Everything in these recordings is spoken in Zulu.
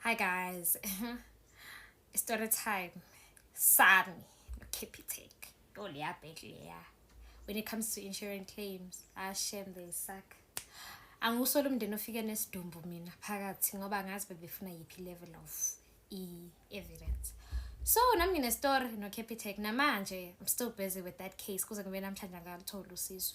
Hi guys. Story time. Sami. Keep it take. Don't yeah, yeah. When it comes to insurance claims, I shame they suck. angiwusoli umndeni ofike nesidumbu mina phakathi ngoba ngazi bebefuna yiphi level of i-evidence so nami nginestory nocapitec namanje i'm still busy with that case kuze kube namhlanje angalutholi usizo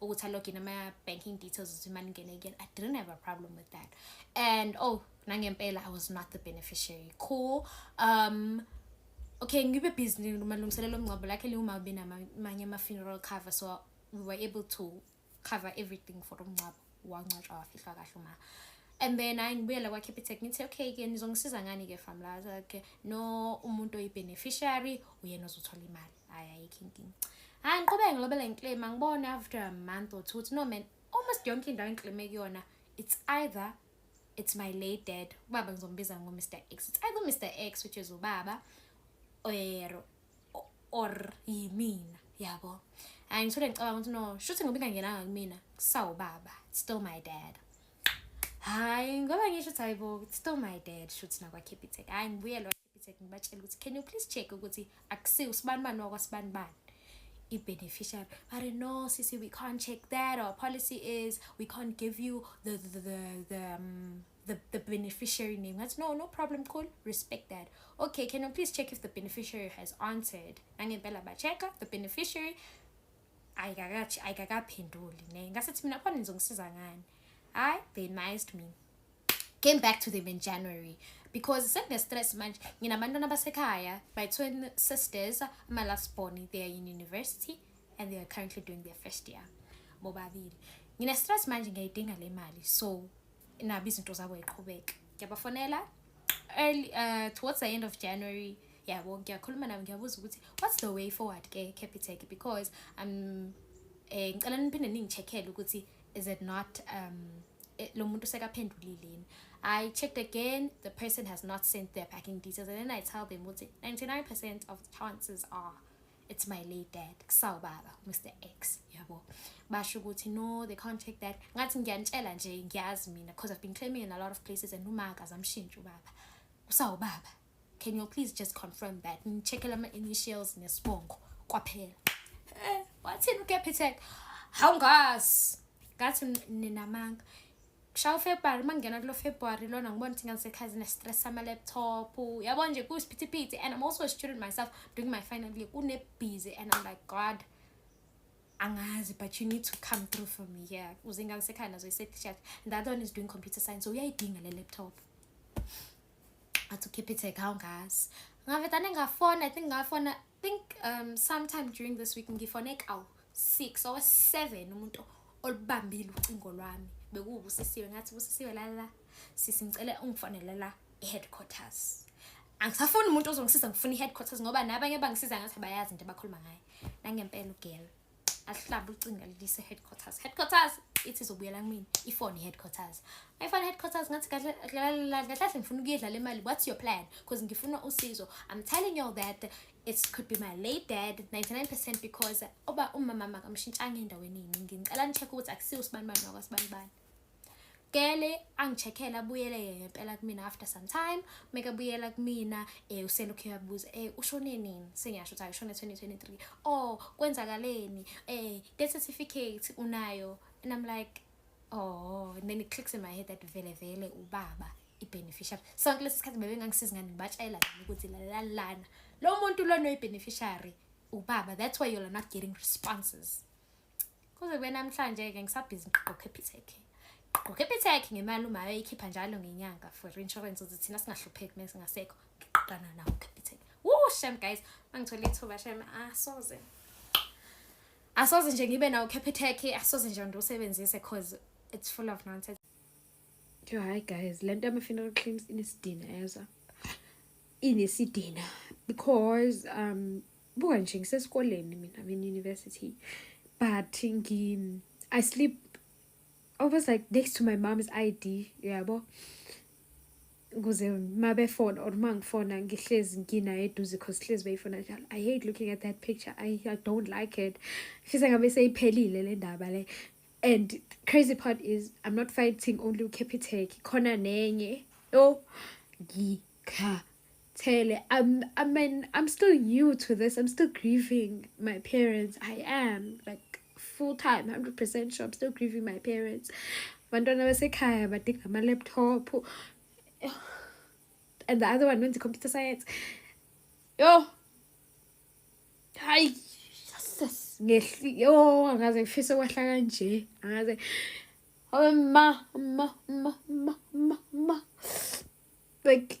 ukuthi alogin ama-banking details ukuthi imali ingene again i didn't have a problem with that and oh nangempela i was not the beneficiary cool um okay ngibe busy malungiselelo omngcwabo lakhe liwuma ube namanye ama-funeral cover so we were able to cover everything for umngcwabo wangcwatshwa wafihlwa kahle uma and then hayi ngibuyela kwa-capitec ngithi okay ke nizongisiza ngani-ke famlaza ke no umuntu oyi-beneficiary uyena ozothola imali hayi ayikho inkinga hayi ngiqhubeke ngilobele ngiclaim angibone after a month or two ukuthi no man almost yonke indawo engiclaime kuyona it's either it's my late dad ubaba ngizombiza ngomr x it's either mr x which is ubaba or or yimina yabo hayi ngithole ngicabanga ukuthi no shuthi ngoba ingangenanga kumina kusawubaba still my dad hayi ngoba ngisho ukuthi hayi bo still my dad shuthi nakwakhiphitek hayi ngibuyelwa Bitsek ngibatshela ukuthi can you please check ukuthi akusiwo usibanibani wakwasibanibani i-beneficiary but no sisi we can't check that our policy is we can't give you the the the, the um, the, the beneficiary name. That's no, no problem, cool. Respect that. Okay, can you please check if the beneficiary has answered? Nangempela bacheka the beneficiary ayikakaphenduli ne ngasethi mina khona nizongisiza ngani hayi they nice me came back to them in January because sekunestress manje nginabantwana abasekhaya my twin sisters my last born they are in university and they are currently doing their first year bobabili ngine-stress manje ngiyayidinga le mali so nabo izinto zabo yiqhubeka ngiyabafonela early uh, towards the end of january yabo ngiyakhuluma nabo ngiyabuza ukuthi what's the way forward ke capitec because um eh, ngicela niphinde ningi-check-ele ukuthi is it not um eh, lo muntu sekaphendulile yini i checked again the person has not sent their packing details and then i tell them ukuthi 99 percent of the chances are it's my late dad kusawubaba mr x yabo basho ukuthi no they can't check that ngathi ngiyanitshela nje ngiyazi mina because i've been claiming in a lot of places and umaka zamshintsha ubaba kusawubaba can you please just confirm that ngicheckela ama-initials nesibongo kwaphela eh, wathini ukuyaphethe hawu ngazi ngathi ninamanga shaya ufebruary uma ngingena kulo february lona ngibona ukuthi ngangisekhazi ne-stress sama-laptop yabo nje kuwusiphithiphithi and i'm also a student myself doing my final year kunebhizi and i'm like god angazi but you need to come through for me here yeah. uze ngangisekhaya nazo i-certificate and the other one is doing computer science so uyayidinga le laptop I had to keep it a count, guys. Ngabe tane ngafona, I think ngafona, I think um, sometime during this week ngifone kawu 6 or 7 umuntu olubambile ucingo lwami. Bekuwubusisiwe ngathi busisiwe la la. Sisi ngicela ungifonele la e-headquarters. Angisafuni umuntu ozongisiza ngifuna i-headquarters ngoba nabanye bangisiza ngathi bayazi into abakhuluma ngayo. Nangempela ugirl. ahlaba ucingo alilise headquarters headquarters ithi izobuyela kumina ifone headquarters ayifone headquarters ngathi kahle kahle ngifuna ukuyedlala imali what's your plan because ngifuna usizo i'm telling you that it could be my late dad 99% because oba umama makamshintshanga endaweni yini ngicela nicheck ukuthi akusiwo usibani bani wakwaSibani bani gele angicheckele abuyele ngempela kumina after some time make abuyela kumina eh uselokhu uyabuza eh ushone nini sengiyasho ukuthi ushone 2023 oh kwenzakaleni eh death certificate unayo and i'm like oh and then it clicks in my head that vele vele ubaba i-beneficiary sonke lesi sikhathi bebengangisizi ngani ngibatshela ukuthi lalalana lo muntu lona uyi-beneficiary ubaba that's why you're not getting responses kuze kube namhlanje-ke ngisabhizi ngiqoqa ephithekhe ngiqoqa ephithekhe ngemali umayo eyikhipha njalo ngenyanga for insurance ukuthi thina singahlupheki uma singasekho ngiqoqana nawo ephithekhe wuu shem guys uma ngithola ithuba shem asoze ah, asoze nje ngibe nawo capitec asoze nje ndiwusebenzise cause it's full of nonsense yo hayi guys le nto yama-funeral claims inesidina yezwa inesidina because um buka nje ngisesikoleni mina I'm in university but ngi I sleep almost like next to my mom's ID yabo kuze mabefona or mangifona ngihlezi nginayo eduze cause hlezi beyifona njalo i hate looking at that picture i, I don't like it fisa ngabe seyiphelile le ndaba le and crazy part is i'm not fighting only ucapitec khona nenye yo ngikha Tele, I'm, I mean, I'm still new to this. I'm still grieving my parents. I am like full time, 100% sure. I'm still grieving my parents. Bantwana basekhaya badinga ama laptop. And the other one went to computer science. Yo. Hi. Jesus. Ngehli. Yo, angaze ngifise kwahla kanje. Angaze. Oh, ma, ma, ma, ma, ma, ma. Like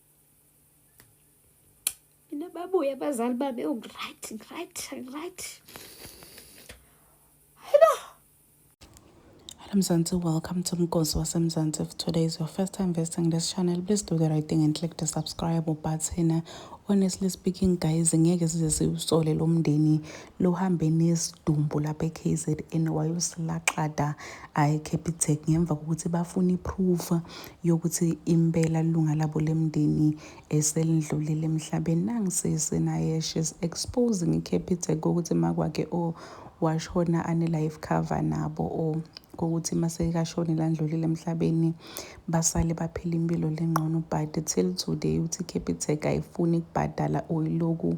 Mina babuye abazali bami ongright oh, ngright ngright. Hello. Hello Mzansi, welcome to Mgozi waseMzansi. If today is your first time visiting this channel, please do the right thing and click the subscribe button. Honestly speaking guys, ngeke size siwusole lo mndeni luhambe nesidumbu lapha eKZN wayosilaxada eCapitec ngemva kokuthi bafuna iproof yokuthi impela lunga labo lemndeni eselidlulile emhlabeni nangisisi naye she's exposing iCapitec ukuthi makwakhe o oh, washona ane-life cover nabo o oh, kokuthi masekashone landlulile emhlabeni basale baphila impilo lengqono but till today uthi iCapitec ayifuni ukubhadala oyiloku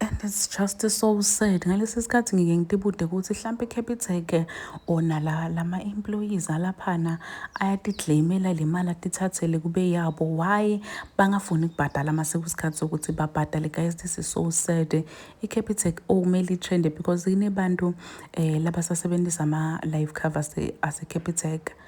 and it's just so sad ngalesi sikhathi ngike ngitibude ukuthi hlampe capitec ona la lama employees alaphana ayatiklaimela le mali atithathele kube yabo why bangafuni kubhadala mase kusikhathi sokuthi babhadale guys this is so sad i-capitec okumele itrende because inebantu um eh, labasasebenzisa ama-life covers ase-capitec eh,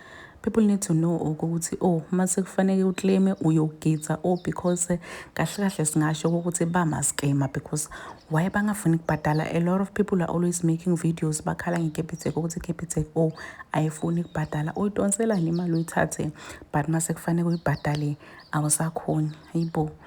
people need to know ukuthi oh uma sekufanele uclaime uyogidza oh because eh, kahle kahle singasho ukuthi bamaskema because why bangafuni kubhadala a lot of people are always making videos bakhala ngekepitec ukuthi ikepitec oh ayifuni kubhadala uyidonselani imali uyithathe but uma sekufanele uyibhadale awusakhoni yibo